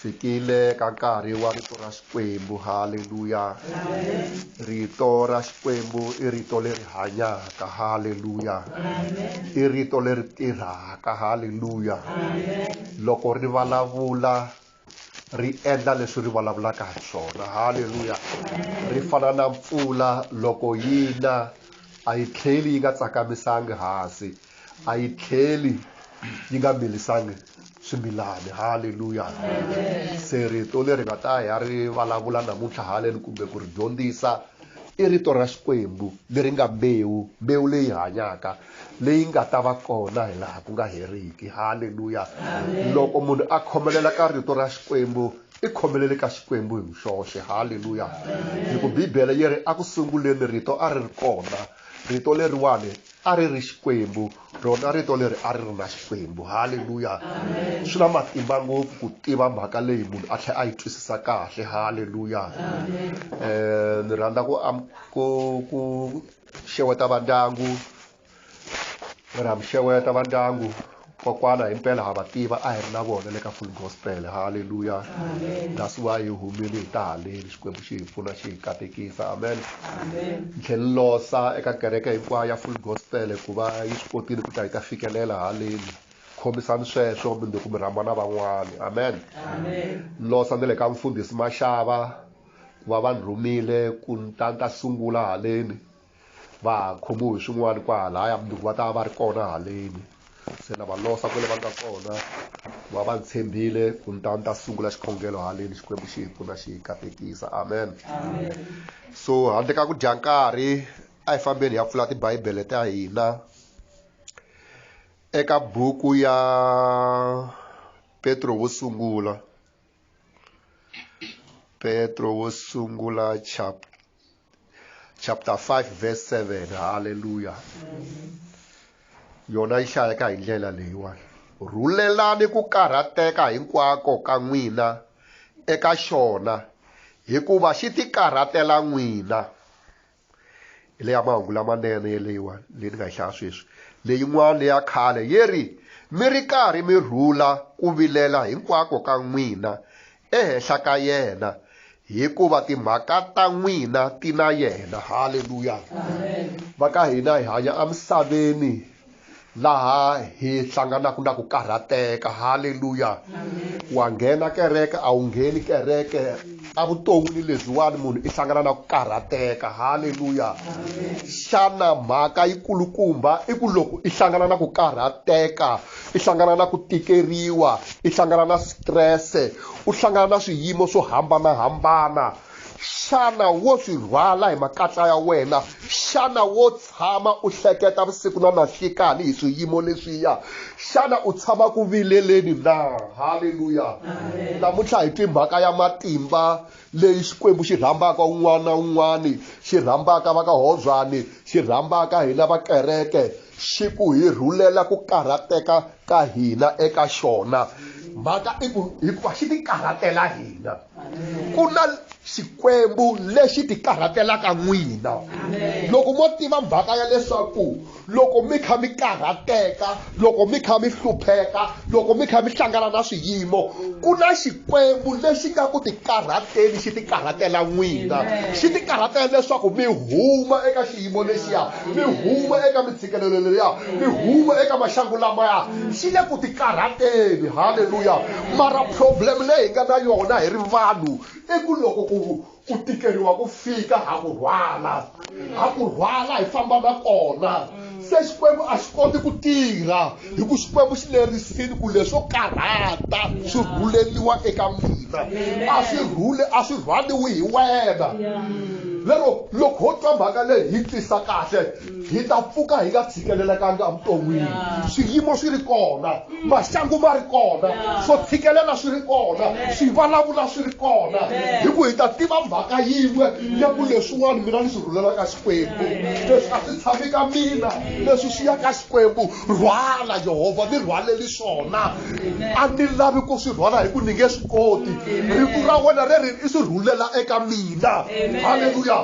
fikile ka nkarhi wa rito ra xikwembu haleluya rito ra xikwembu i rito leri hanyaka haleluya i rito leri tirhaka haleluya loko ri vulavula ri endla leswi ri vulavulaka hi swona haleluya ri fana na mpfula loko yi na a yi tlheli yi nga tsakamisangi hansi a yi tlheli yi nga milisangi swimilani halleluya se rito leri nga ta ya ri vulavula namuntlha haleni kumbe ku ri dyondzisa i rito ra xikwembu leri nga mbewu mbewu leyi hanyaka leyi nga ta va kona hi laha ku nga heriki halleluya loko munhu a khomelela ka rito ra xikwembu i khomelele ka xikwembu hi muxoxe halleluya hi ku bibele yi ri eku sunguleni rito a ri ri kona rito leriwani a ri ri xikwembu rona rito leri a ri ri na xikwembu halleluya swi na matimba ngopfu ku tiva mhaka leyi munhu a tlhela a yi twisisa kahle halleluya um ni rhandza ku ku ku xeweta vandyangu ni rha mi xeweta vandyangu kokwana hi mpela ha va tiva a hi ri na vona le ka full gospel halleluya that's why hi humile hi ta haleni xikwembu xi hi pfuna xi hi katekisa amen ni tlhe ni losa eka kereke hinkwayo ya full gospel ku va yi swi kotile ku ta yi ta fikelela haleni khomisani sweswo mi nduku mi rhamba na van'wani amen ni losa ni le ka mfundhisi maxava ku va va ni rhumile ku ni ta ni ta sungula haleni va ha khomiwe hi swin'wana kwahalaya mundzuku va ta va va ri kona haleni se na va losa kwale va nga kona va va ni tshembile ku ni ta ni ta sungula xikhongelo haleni xikwembu xi hi pfuna xi hi katekisa amen so handle ka ku dya nkarhi a hi fambeni hi ya pfula tibibele ta hina eka buku ya petro wo sungula petro wo sungula chapter chapter 5 verse 7 halleluya yona yi hlayeka hi ndlela leyiwani rhulelani ku karhateka hinkwako ka n'wina eka xona hikuva xi ti karhatela n'wina hi leya mahungu lamanene yeleyiwa leyi ni nga yi hlaya sweswi leyin'wana leya khale yi ri mi ri karhi mi rhula ku vilela hinkwako ka n'wina ehenhla ka yena hikuva timhaka ta n'wina ti na yena halleluya va ka hina hi hanya emisaveni laha hi hlanganaka na ku karhateka halleluya wa nghena kereke a wu ngheni kereke evuton'wini lebyiwani munhu i hlangana na ku karhateka halleluya xana mhaka yi kulukumba i ku loko i hlangana na ku karhateka i hlangana na ku tikeriwa i hlangana na strese u hlangana na swiyimo swo hambanahambana xana wo swi rhwala hi makatla ya wena xana wo tshama u hleketa vusiku na nanhlikani hi swiyimo leswiya xana u tshama ku vileleni na halleluya namuntlha hi twimhaka ya matimba leyi xikwembu xi rhambaka un'wana na un'wana xi rhambaka va ka hobyani xi rhambaka hina va kereke xi ku hi rhulela ku karhateka ka hina eka xona mhaka i ku hikuva xi ti karhatela hina ku na xikwembu lexi ti karhatelaka n'wina loko mo tiva mhaka ya leswaku loko mi kha mi karhateka loko mi kha mi hlupheka loko mi kha mi hlangana na swiyimo ku na xikwembu lexi nga ku tikarhateni xi tikarhatela n'wina xi tikarhatela leswaku mi huma eka xiyimo lexiya mi huma eka mintshikelelo leya mi huma eka maxangu lamaya xi le ku tikarhateni halleluya mara problem leyi hi nga na yona hi ri vanhu i ku loko ku ku tikeriwa ku fika ha ku rhwala ha ku rhwala hi famba na kona se xikwembu a xi koti ku tirha hi ku xikwembu xi lerisini ku leswo karhata swi rhuleliwa eka mina a swi rhule a swi rhwaliwi hi wena lero loko ho twa mhaka leyi hi tisa kahle hi ta pfuka hi nga tshikelelekanga evuton'wini swiyimo swi ri kona maxangu ma ri kona swo tshikelela swi ri kona swivulavula swi ri kona hi ku hi ta tiva mhaka yin'we ya ku leswin'wana mina ni swi rhulelaka xikwembu leswi a swi tshami ka mina leswi swi ya ka xikwembu rhwala yehovha ni rhwaleli swona a ni lavi ku swi rhwala hi ku ni nge swi koti rito ra wena ri ri i swi rhulela eka mina halleluya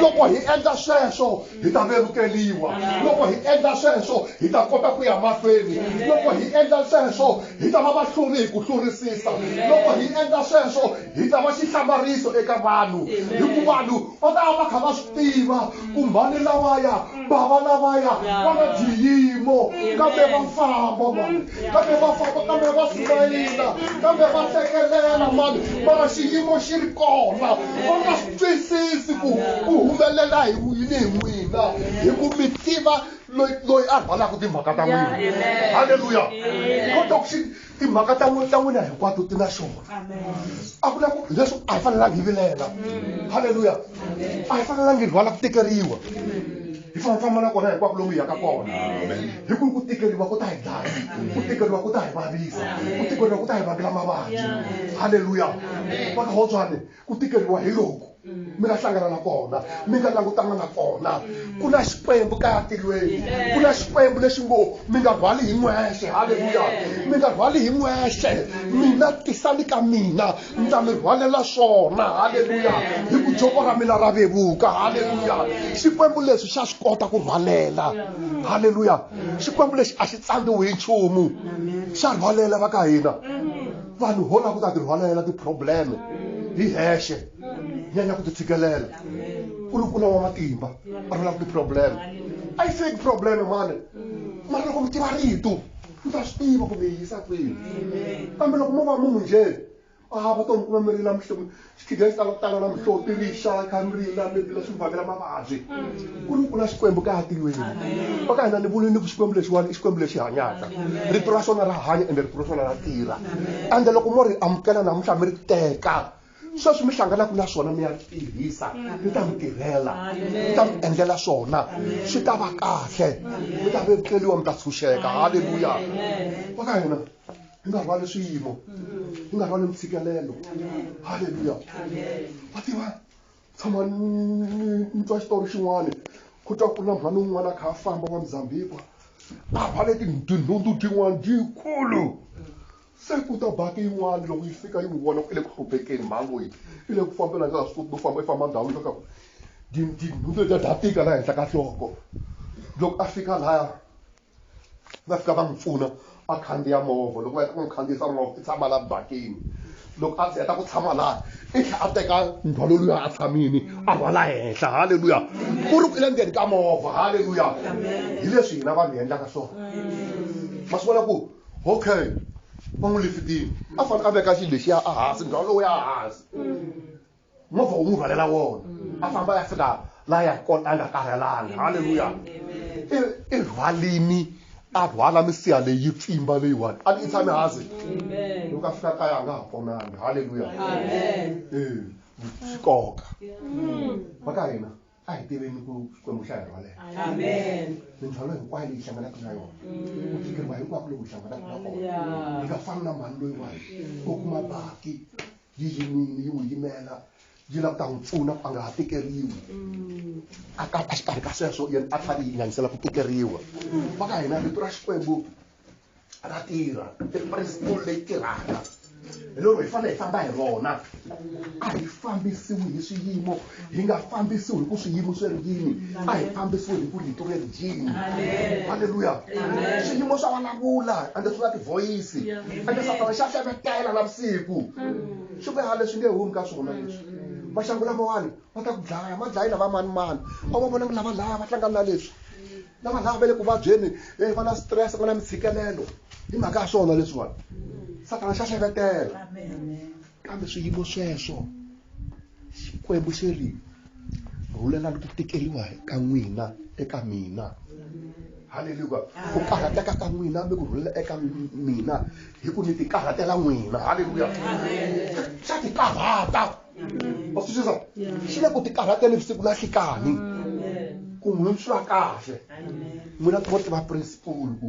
loko hi endla sweswo hi ta vevukeliwa loko hi endla sweswo hi ta kota ku ya mahlweni loko hi endla sweswo hi ta va vahluri hi ku hlurisisa loko hi endla sweswo hi ta va xihlamariso eka vanhu hikuva vanhu va ta va va kha va swi tiva ku mhani lavaya bava lavaya va na xiyimo kambe va famba mani kambe va famba kambe va sumayila kambe va hlekelela mani mara xiyimo xi ri kona va nga twisisi ku ku humelela hi yini hi n'wina hi ku mi tiva loyi loyi a rhwalaka timhaka ta n'wina halleluya kota ku xi timhaka ta ta n'wina hinkwato ti na xona a ku na ku leswi a hi fanelangi hi vilela halleluya a hi fanelangi hi rhwala ku tekeriwa hi famba famba na kona hinkwako lomu hi yaka kona hi ku ku tikeriwa ku ta hi dlaya ku tikeriwa ku ta hi vavisa ku tikeriwa ku ta hi vangela mavabyi halleluya va ka hotswane ku tikeriwa hi loku mi nga hlangana na kona mi nga langutana na kona ku na xikwembu kaya tilweni ku na xikwembu lexi ngo mi nga rhwali hi n'wexe halleluya mi nga rhwali hi n'wexe mina tisani ka mina ndza mi rhwalela swona halleluya hi ku joko ra mina ra vevuka halleluya xikwembu lexi xa swi kota ku rhwalela halleluya xikwembu lexi a xi tsandziwi hi nchumu xa rhwalela va ka hina vanhu ho lava ku ta tirhwalela ti-problem hi hexe nyanya ku ti tshikelela u lukula wa matimba a ri lava ti-problem a yi feki problem mani mara loko mi tiva rito mi ta swi tiva kumbe yi yisa kwini kambe loko mo va munhu njhe a va to mi kuma mi rila xichudeni xi tala ku tala na mihloti rixa khanrila mebila swi vangela mavabyi ku ri ku na xikwembu ka hatilweni va ka hina ni vule ni ku xikwembu lexiwani i xikwembu lexi hanyaka rito ra xona ra hanya ende rito ra xona ra tirha ende loko mo ri amukela namuntlha mi ri teka sweswi mi hlanganaka na swona mi ya tirhisa mi ta mi tirhela mi ta mi endlela swona swi ta va kahle mi ta vetleliwa mi ta tshunxeka halleluya va ka hina yi nga rhwali swiyimo yi nga rhwali ntshikelelo halleluya va tiva tshama ni twa xitori xin'wana ku twa ku na mhani un'wana a kha a famba wa mzambikwa a rhwale tinhundzu tin'wana dyikulu se ku ta baki yin'wana loko yi fika yi n'wi vona ku i le ku hluphekeni mhani loyi i le ku fambela nga swi koti no famba i famba ndhawu yo ka tinhundzu letiya ta tika laha henhla ka nhloko loko a fika laya va fika va n'wi pfuna a khandziya movha loko va heta ku n'wi khandziyisa movha i tshama laha bakini loko a heta ku tshama laha i tlhe a teka ndzhwalo luya a tshamini a rhwala henhla halleluya ku ri ku i le ndzeni ka movha halleluya hi leswi hina vanhu hi endlaka swona ma swi vona ku okay va n'wi lifitini a fanele a veka xilo lexiya a hansi ndzhwalo lowu ya hansi movha wu n'wi rhwalela wona a famba ya fika la ya kona a nga karhelanga halleluya i rhwalini a rhwala misiha leyi pfimba leyiwani a ni i tshami hansi loko a fika kaya a nga ha ponanga halleluya ee swi koka va ka hina a hi tiveni ku xikwembu xa hi rhwalela mindzhwalo hinkwayo leyi hlanganaka na yona ku tikeriwa hinkwako loku hlanganaka na kona hi nga fani na mhani loyiwani u kuma baki yi yimile yi n'wi yimela yi lava ku ta n'wi pfuna ku a nga ha tikeriwi a ka a xikarhi ka sweswo yena a tlhari yi ngangisela ku tikeriwa va ka hina rito ra xikwembu ra tirha i principle leyi tirhaka hi lero hi fanele hi famba hi rona a hi fambisiwi hi swiyimo hi nga fambisiwi hi ku swiyimo swi ri yini a hi fambisiwi hi ku rito ri ri yini halleluya swiyimo swa vulavula ande swi na tivhoyisi ande satana xa hlevetela na vusiku swi veha leswi nge humi ka swona leswi vaxangu lamawani va ta ku dlaya ma dlayi lava mani mani a va vonangi lava laya va hlangani na leswi lava laya va le ku vabyeni e va na stress va na mitshikelelo hi mhaka ya swona leswiwani satana xa hlevetela kambe swiyimo sweswo xikwembu xi ri rhulelani ku tikeriwa ka n'wina eka mina haleluya ku karhateka ka n'wina mi ku rhulela eka mina hi ku ni ti karhatela n'wina haleluya xa ti karhata wa swi twisisa xi le ku ti karhatela vusiku na nhlikani ku n'wina swi va kahle n'wina timo tiva principal ku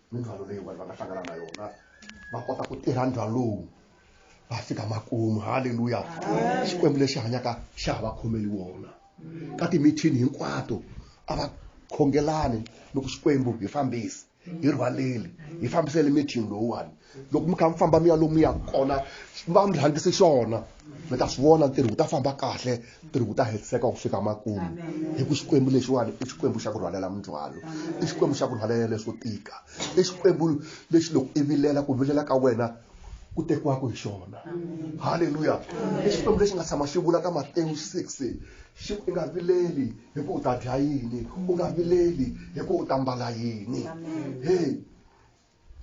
mindzhwalo leyi vanhu va nga hlangana na yona va kota ku tirha ndzhwalo lowu va fika makumu halleluya xikwembu lexi hanyaka xa ha va khomeli wona ka timithini hinkwato a va khongelani loko xikwembu hi fambisi hi rhwaleli hi fambisele mithini lowuwani loko mi kha mi famba mi ya lomu mi ya kona va mi rhangise xona mi ta swi vona ntirho wu ta famba kahle ntirho wu ta hetiseka ku fika makumu hi ku xikwembu lexiwani i xikwembu xa ku rhwalela mindzwalo i xikwembu xa ku rhwalela leswo tika i xikwembu lexi loko i vilela ku vilela ka wena ku tekiwaka hi xona halleluya i xikwembu lexi nga tshama xi vula ka matewu 6 xi i nga vileli hi ku u ta dya yini u nga vileli hi ku u ta mbala yini heyi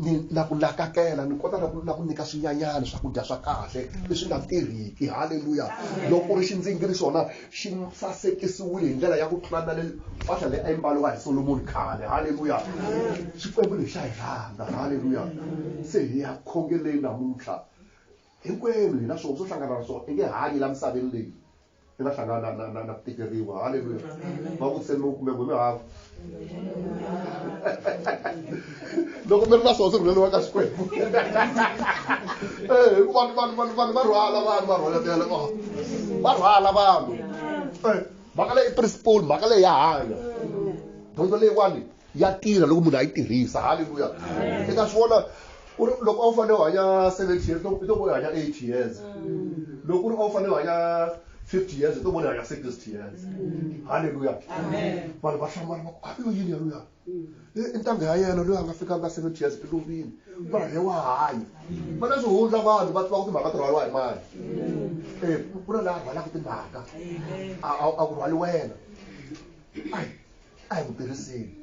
ni na ku nakakela ni kota na ku na ku nyika swinyanyana swakudya swa kahle leswi nga tirhiki halleluya loko ku ri xindzingiri xona xi sasekisiwile hi ndlela ya ku tlula na le mpahla leyi a yi mbaliwa hi solomoni khale halleluya xikwembu lexi xa hi rhandza halleluya se hi ya khongeleni namuntlha hinkwenu hi na swona swo hlangana na swona i nge hanyi la misaveni leyi mi nga hlangana na, na, na ku tikeriwa halleluya va vutiseni mi kumbe n'we mi hava loko mi ri na swona swi rhuleriwa ka xikwembu eh, hikuva vanhu vanhu vanhu va rhwala vanhu va rhwaletela oh. va rhwala vanhu eh, mhaka leyi principle mhaka leyi ya hanya dyondzo leyiwani ya tirha loko munhu a yi tirhisa halleluya i nga swi vona ku ri loko a wu fanele u hanya seventy years i to vo hanya eight years loko ku ri a wu fanele u hanya fifty years i to vona hanya sixty years halleluya vanhu va hlamala va ku a yo yini yaluya i ntanga ya yena loyi a nga fikanga seventy years i lovile mara he wa hanya va na swihundla vanhu va tiva ku timhaka ti rhwaliwa hi mani e ku na laha rhwalaka timhaka a ku rhwali wena a hi ku tirhiseni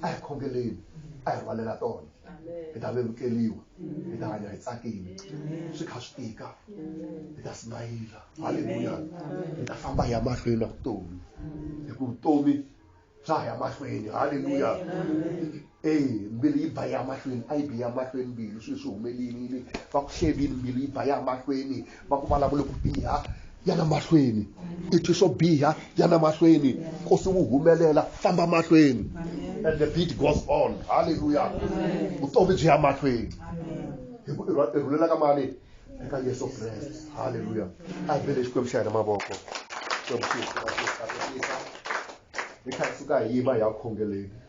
a hi khongeleni a hi rhwalela tona hi ta vevukeliwa hi ta hanya hi tsakile swi kha swi tika hi ta simayila halleluya hi ta famba hi ya mahlweni na vutomi hi ku vutomi bya ha ya mahlweni halleluya e mbilu yi ba ya mahlweni a yi bi ya mahlweni mbilu swilo swi humelelile va ku hlevini mbilu yi ba ya mahlweni va ku vulavule ku biha ya na mahlweni i twi swo biha ya na mahlweni nkosi wu humelela famba mahlweni and the beat goes on halleluya vutomi byi ya mahlweni hi ku i rhulela ka mani eka yesu kreste halleluya a hi vele xikwembu xa hina mavoko xikwembu xi hi kha hi suka hi yima hi ya khongeleni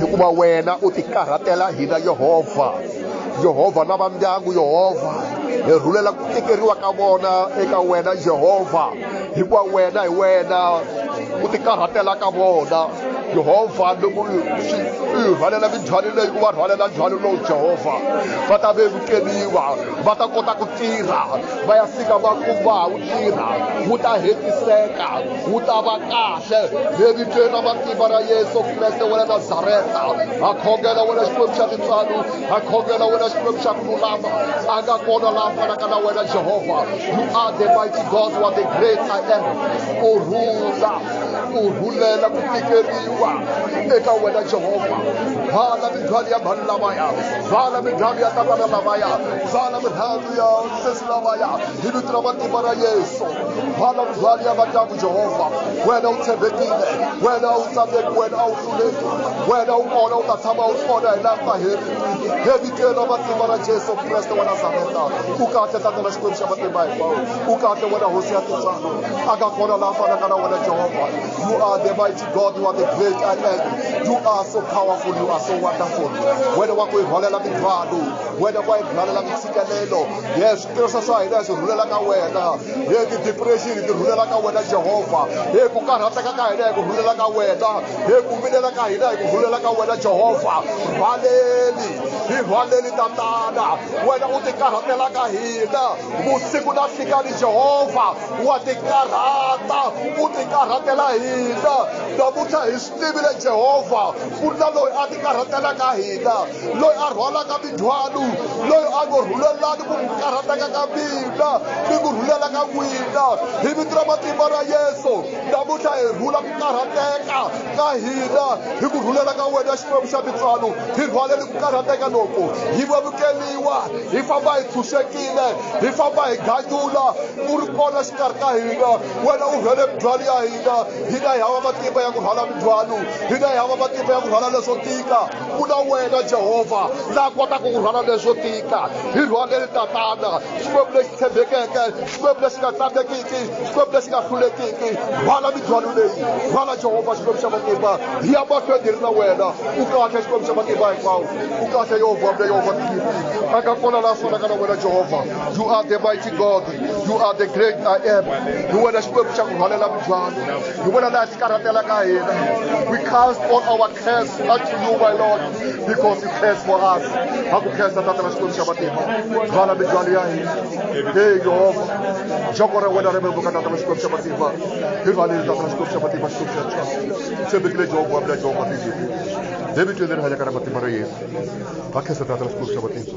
hikuva wena u tikarhatela hina yehovha yehovha na va ndyangu yehovha hi rhulela ku tikeriwa ka vona eka wena yehovha hikuva wena hi wena ku tikarhatela ka vona jehovha loko u yi rhwalela mindzhwalo leyi u va rhwalela ndzhwalo lowu jehovha va ta vevukeliwa va ta kota ku tirha va ya fika va kuma wu tirha wu ta hetiseka wu ta va kahle levitweni ra matimba ra yesu kreste wa le nazareta ha khongela wena xikwembu xa tintswalo I call you, Lord, as you shall no love. I got called a love, and I can wear Jehovah. You are the mighty God, you are the great I am. O ruler, o ruler, la kutikeriwa. Eka wena Jehovah. Vala midhwali ya vanhu lavaya. Vala midhwali ya tavana lavaya. Vala midhwali ya sesi lavaya. Hi vito ra matimba ra Yesu. Vala midhwali ya vandyangu Jehovah. Wena u tshembekile. Wena u tsandeki, wena u wena u kona u ta tshama u kona hi laha ku nga heriki he vitelo ra matimba ra jesu kreste wa nazareta u kahle tata na xikwembu xa matimba hinkwawo u kahle wena hosi ya tintswalo a nga kona laha fanaka na wena jehovha you are the mighty god you are the great i am you are so powerful you are so wonderful wena wa ku hi rhwalela mindzwalo wena wa hi rhwalela mintshikelelo yes tirhisa swa hina swi rhulela ka wena hi ti-depression ti rhulela ka wena jehovha hi ku karhateka ka hina hi ku rhulela ka wena hi ku vilela ka hina hi ku rhulela ka wena jehovha rhwaleli hi rhwaleli tatana wena u ti karhatela ka hina vusiku na hlikani jehovha wa ti karhata u ti karhatela hina namuntlha hi tivile jehovha ku ri na loyi a tikarhatelaka hina loyi a rhwalaka mindzhwalo loyi a ngo rhulelani ku karhateka ka mina ni ku rhulela ka n'wina hi vito ra matimba ra yesu namuntlha hi rhula ku karhateka ka hina hi ku rhulela ka wena xikwembu xa tintswalo hi rhwaleni ku karhateka loku hi vevukeliwa hi famba hi tshunxekile hi famba hi ganyula ku ri kona xikarhi ka hina wena u rhwele mindzhwalo ya hina hina hi hava matimba ya ku rhwala mindzhwalo hina hi hava matimba ya ku rhwala leswo tika ku na wena jehovha la kotaka ku rhwala leswo tika hi rhwaleli tatana xikwembu lexi tshembekeke xikwembu lexi nga tsandzekiki xikwembu lexi nga hlulekiki rhwala mindzhwalo leyi rhwala jehovha xikwembu xa matimba hi ya mahlweni hi ri na wena u kahle xikwembu xa matimba hinkwawo u kahle yehovha mle yehovha tiyini a nga kona la fanaka na wena jehovha you are the mighty god you are the great i am hi wena xikwembu xa ku rhwalela mibyalo hi wena laha xi karhatela ka hina we cast all our cares unto you my lord because you cares for us ha ku khensa tata ra xikwembu xa matimba rhwala mibyalo ya hina he yehova joko ra wena ri vevuka tata ra xikwembu xa matimba hi rhwaleli tata ra xikwembu xa matimba xikwembu xa tshwa tshembekile jehova wa mina jehova tizimi hi vitweni leri hanyaka ra matimba ra yesu va khensa tata ra xikwembu xa matimba